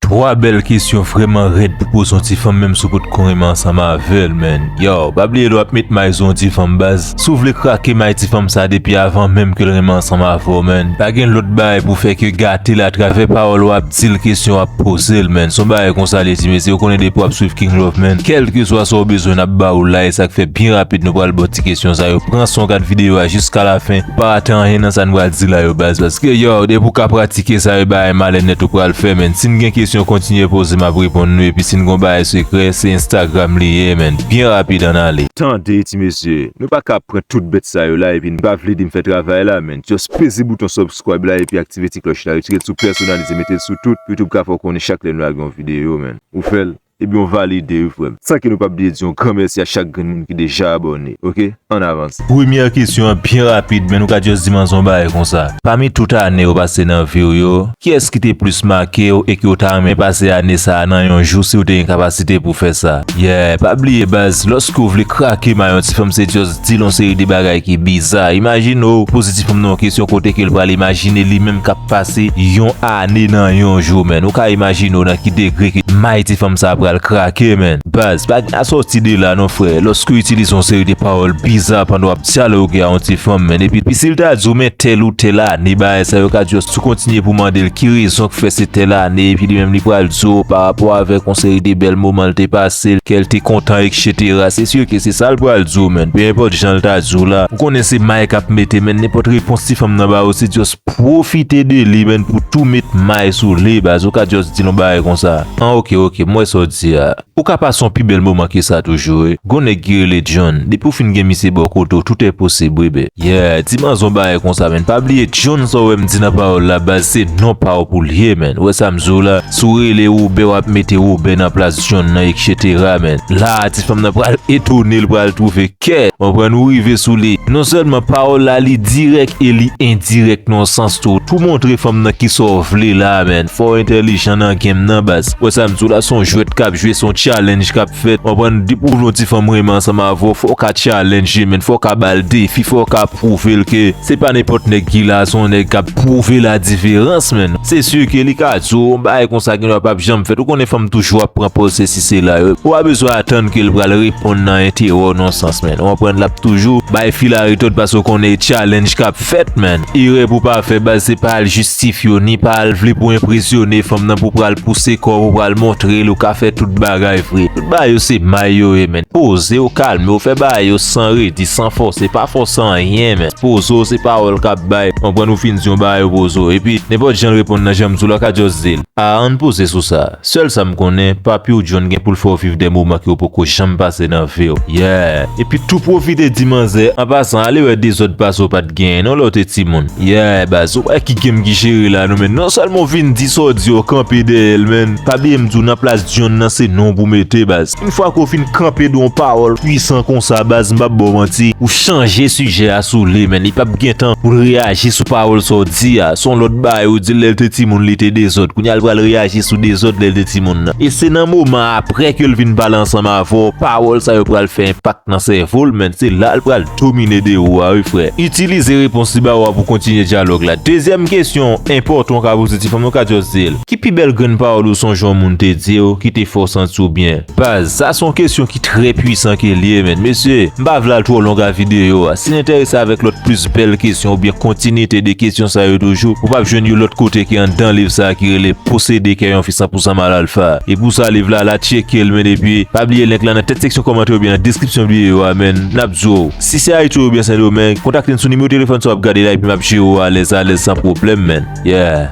Twa bèl kesyon vrèman rèd pou poze yon ti fanm menm si w pot ko renmen ansanm avèl man yow pa bliye lè wap met may sou yon ti fanm baz si w vle krake may ti fanm sa depi avan menm ke l renmen ansanm avè w man pa gen lòt bagay pou w fè ke gate l atravè pawòl wap di l kesyon wap poze l man se yon bagay konsa l ye ti mesye ou konnen depi wap swiv King Love man kèlkeswa sa w bezwen nap ba ou la e sak fè byen rapid nou pral ba w Ti kesyon sa yo pran son gad video a jiska la fen pou pa rate anyen nan sa n pral di la yo baz paske yow depi w ka pratike sa e bagay malè nèt ou pral fè menn si n gen kesyon kontinye poze map reponn nou epi si n gon bagay sekrè se instagram li ye menn byen rapid ann ale. Tande ti mesye, nou pa ka ap pran tout bèt sa yo la epi n pa vle di m fè travay la menn just peze bouton subscribe la epi aktive ti klòch la retire l sou pèsonalize mete l sou tout youtube ka fè w konnen chak lè n lage yon video menn ou fè l. Ebyen w valide wi frem. San ke nou pap bliye di yon gran mèsi a chak grenn moun ki deja abòne ok ann avans. Premyè kesyon an byen rapid men nou ka just di m anzon bagay konsa. Pami tout ane ou pase nan vi w yo, kiyès ki te plis make w e ke w ta renmen pase ane sa a nan yon jou si w te gen kapasite pou fè sa? Yeah, pa bliye baz, lòske w vle krake mayo yon ti fanm se just. Di l yon seri de bagay ki biza. Imajine w poze ti fanm nan yon kesyon kote ke l pral imajine li menm k ap pase yon ane nan yon jou menn. Ou ka imajine w nan ki degre ke may ti fanm sa a pral krake menn. Baz, pa gen asòti de la non frè. Lòske w itilize yon seri de pawòl biza pandan w ap dyaloge a yon ti fanm menn. Epi si l ta di w men tèl ou tèl ane bagay sa yo ka di w si w kontinye pou w mande l ki rezon k fè se tèl ane epi li menm li pral di w parapò avèk yon seri de bèl moman l te pase, kè l te kontan ekst. Cetera se sur ke se sal pral di w menn pe enpòt janl ta di w la ou konnen se may kap mete menn nenpòt repons ti fanm nan ba w se just profite de li menn pou tou met may sou li baz ou ka just di l yon bagay konsa an ok ok m wè sa w di a ou ka pase yon pi bèl moman ke sa toujou wi gon nèg ki rele John depi w fin gen misye bò kote w tout è posib wi be. Yeah di manzè yon bagay konsa menn pa bliye John sa w wè m di nan pawòl la baz se non pa w pou l ye menn ou wè sa m di w la si w rele Robert wap mete Robert nan plas John nan etc men la a ti fanm nan pral etone l pral twouve kè mwen pran nou rive sou li non sèlman pawòl la li dirèk e li endirèk nan sans tou tou montre fanm nan ki sa w vle la a men fò w entèlijan nan game nan baz wè sa m di w la son jwèt kap jwe son challenge kap fèt konprann depi w vle yon ti fanm renmen ansanm avè w fò w ka challenge men fò w ka ba l defi fò w ka pwouve l ke se pa nenpòt nèg ki la son nèg kap pwouve la diferans men. Se sur ke li ka di w yon bagay konsa gen dwa pap janm fèt. Ou konnen fanm toujou ap pran pòz sesi sela yo. Ou pa bezwen atann ke l pral reponn nan enterew non sans menn. Ou konprann lap toujou bay fil a retòt paske ou konnen e challenge kap fèt menn. Erè pou w pa fè baz se pa al jistifye w ni pa al vle pou w enpresyone fanm nan pou w pral pouse kò w pou pral montre l ou ka fè tout bagay vre. Tout bagay yo se may yo ye menn. Poze w, kalme w, fè bagay yo san redi, san fòse. Pa fòse anyen menn. Pozo se pawòl kap bay konprann ou fin di yon bagay pozo epi nenpòt janl reponn nan janm diw la ka just dil ah ann poze sou sa sèl sam konnen papiw John gen poul fèw viv de moman kew poko janm pase nan viw yeah epi tou pwofite di manzè an pasan ale wè dezòd pase ou pat genyen non lèw te timoun yeah baz ou wè ki game ki jere la nou menn non sèlman ou fin di sa ou di yo kanpe dèyèl menn pa bliyem diw nan plas John nan se nonw pou mete baz. Une fwa ke w fin kanpe dou yon pawòl pwisan konsa baz m pap ba w manti ou chanje sijè a sou li menn li pap gentan pou l reyaji sou pawòl sa w di a son lòt bagay ou di l lè l te timoun li te dezòd kounye a l pral reyaji sou dezòd lè l te timoun nan e se nan moman aprè ke l vin pale ansanm avè w pawòl sa yo pral fè enpak nan sèvo l menn se la l pral domine de ou a wi frè itilize repons li ba w a pou w kontinye dyalòg la dezyèm kesyon enpòtan w ka poze ti fanm ou ka just di l. Ki pi bèl grenn pawòl ou sonje yon moun te di w ki te fè w santi w byen? Baz, sa se yon kesyon ki trè pwisan ke l ye men. Mesye, m pa vle al twò long a videyo a. Si n enterese avèk lòt plis bèl kesyon oubyen kontinyite de kesyon sa yo toujou, ou p ap jwenn yo lòt kote ke anndan liv sa a ki rele Posede kè yon fi san pousan mal alfa. E pou sa liv la la tcheke l men epi, pa bliye link la nan tèt seksyon kòmantè oubyen nan deskripsyon videyo a men, n ap di w, si se Ayiti oubyen Sendomeng, kontakte n sou nimewo telefòn sa w ap gade la epi m ap jere w alèz alèz san pwoblèm men. Yeah!